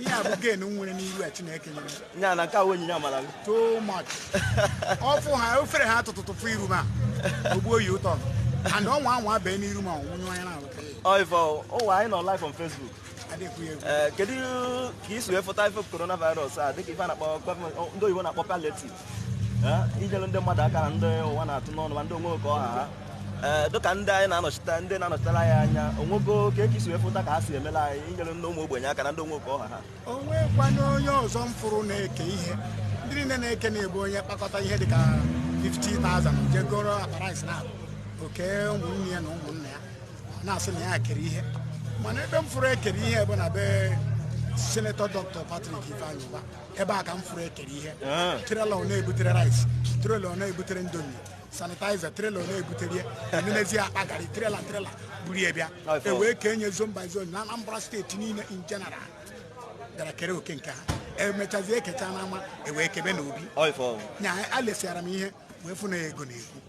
ihe a bụ gen nwere n'iru a chineke nyere nya na nke a onyinye amara gị too much ọ fụ ha o fere ha tụtụtụfụ iru m a ogbuo yi ụtọ and ọ nwaa anwa bee n'iru m ọnwụ nyụọ ya n'alụ ọ ife ụwa anyị nọ live on Facebook adịkwu ya egwu ee kedu ka isi wee fụta ife coronavirus a dịka ife a na-akpọ gọọmenti ndị oyibo na-akpọ palliative inyere ndị mmadụ aka na ndị ụwa na-atụ n'ọnụ ma ndị onwe ka ọ ha ha ee dịka ndị anyị na-anọchite ndị na-anọchitere anyị anya onwego ka isi wee fụta ka ha si emela anyị inyere ndị ụmụ ogbenye aka na ndị onwe ka ọ ha ha o nweekwana onye ọzọ m fụrụ na-eke ihe ndị niile na-eke na-ebu onye kpakọta ihe dịka 50,000 jee goro akpa rice na oke ụmụnne ya na ụmụnna ya na-asị na ya kere ihe mana ebe m fụrụ ekere ihe bụ na be senetọ dọkịta Patrick Ifeanyi Ubah ebe a ka m furu ekere ihe ah. trela ọ na-ebutere rice trela ọ na-ebutere Indomie sanitizer trela ọ na-ebutere ya nenezie akpa garị trela trela buru ya bịa ewee kenye zone by zone na Anambra steeti niile in general gara kere oke nke ha emechazie ekecha n'ama ewee kebe n'obi nya alesiara m ihe wee fụ na ego na-ekwu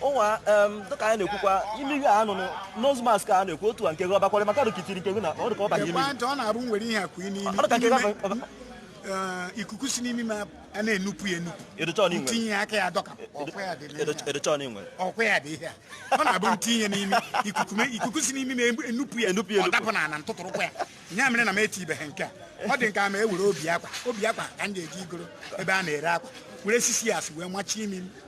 ụwa dịka anyị na-ekwukwa ime ihe a nụnụ nose mask a na-ekwu otu a nke gị ọ bakwara maka dụkitiri nke gị na ọ dịka ọ ba gị ime ọ na-abụ m were ihe a kụ n'imi eh, ikuku si n'imi m a na-enupụ ya enupụ m tinye aka ya dọka ọkwa ya dị ihe a ọ na-abụ m tinye n'imi ikuku si n'imi m a enupụ ya ọ dapụ na ala m tụtụrụkwa ya ya mere na m etibeghị nke a ọ dị nke a ma e were obi akwa obi akwa ka m ga-eje igoro ebe a na-ere akwa were six yards wee machie imi m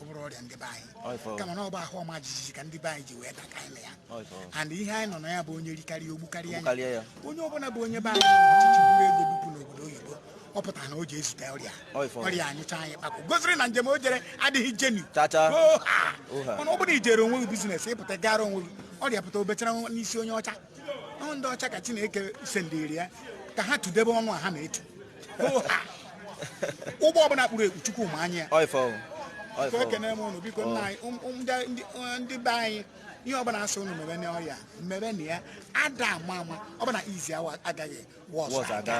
ọ bụrọ ọrịa ndị be anyị kama na ọ bụ ahụ ọma jijiji ka ndị be anyị ji wee daka anyị ya and ihe anyị nọ na ya bụ onye rikarịa o gbukarịa ya onye ọbụla bụ onye be anyị ọchịchị buru ego bupụ n'obodo oyibo ọ pụtara na o ji ezute ọrịa ọrịa anyụcha nya ikpakwụ gosiri na njem o jere adịghị genuine mana ọ bụrụ na ijere onwe gị business ịpụta gara onwe gị ọrịa pụta o bechara n'isi onye ọcha ndị ọcha ka Chineke sendiri ya ka ha tudebe ọnụ a ha na-etu ụgbọ ọbụla kpuru ekpu chukwu ma anya ya ekene m ụnụ biko nna anyị um, um, uh, ndị be anyị ihe ọbụla asị ụnụ mebe na ọrịa mebenụ ya ada ama ama ọbụla izi awa agaghị wọs aga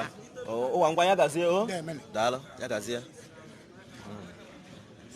ụwa ngwa ya gazie o oh. daalụ ya gazie hmm.